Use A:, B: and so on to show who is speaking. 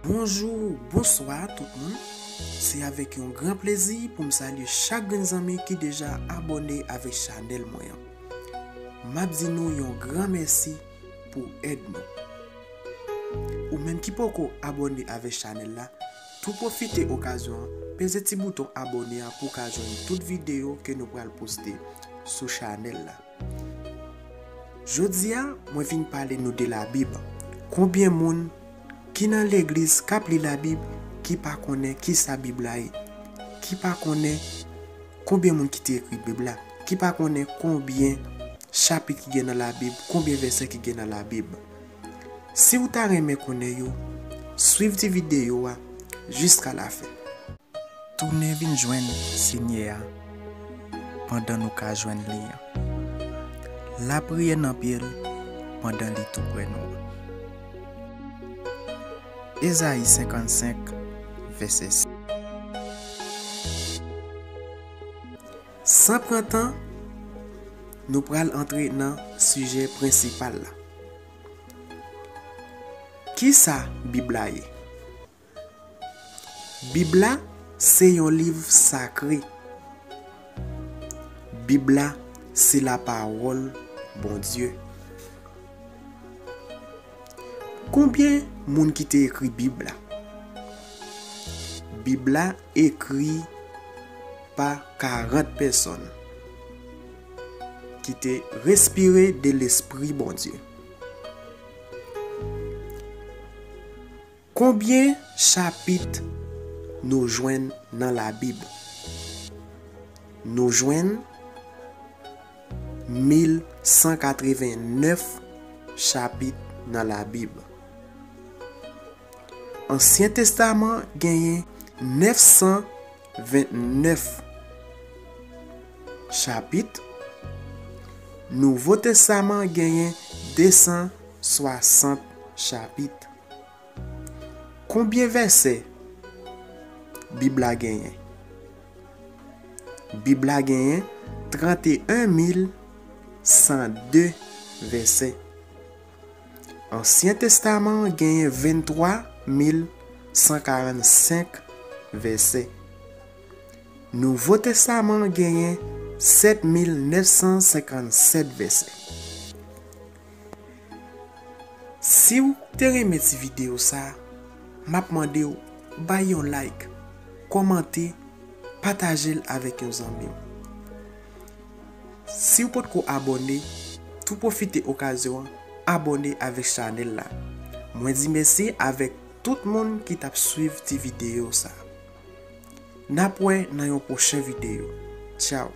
A: Bonjou, bonswa tout moun. Se avèk yon gran plezi pou m salye chak grenn zanmi ki deja abòne avèk chanèl mwen an. M ap di nou yon gran mèsi. pou w èd nou. Ou menm ki poko abòne avèk chanèl la, tou pwofite okazyon an peze ti bouton abòne a pou w ka jwenn tout videyo ke nou pral poste sou chanèl la. Jodi a mwen vin pale nou de labib, konbyen moun ki nan legliz kap li labib ki pa konnen kisa bib la ye, ki pa konnen Konbyen moun ki te ekri bib la ki pa konnen konbyen chapit ki gen nan la bib konbyen vèsè ki gen nan la bib si ou ta renmen konnen yo swiv ti video a jiska la fen. Tounen vin jwenn Senyè a pandan nou ka jwenn li an. Lapriyè nan pye l pandan li toupre nou an. Ezayi 55, vèsè 6. San pran tan, nou pral antre nan sijè prensipal la. Ki sa Bib la ye? Bib la se yon liv sakre. Bib la se Lapawòl Bondye. Konbyen moun ki te ekri bib la? Bib la ekri pa 40 pèsòn ki te respire de lespri Bondye. Konbyen chapit nou jwenn nan Labib? Nou jwenn 1189 chapit nan Labib. Ansyen Testaman genyen 929 chapit, Nouvo Testaman genyen 260 chapit. Konbyen vèsè Bib la genyen? Bib la genyen 31102 vèsè. Ansyen Testaman an genyen 23145 vèsè. Nouvo Testaman an genyen 7957 vèsè. Siw te renmen ti video sa map mandew bay yon like kòmante patajel avèk yon zanmiw siw potko abòne tou pwofite okazyon an abòne avèk chanèl la mwen di mèsi avèk tout moun ki tap swiv ti video sa nap wè nan yon pwochen video tchao.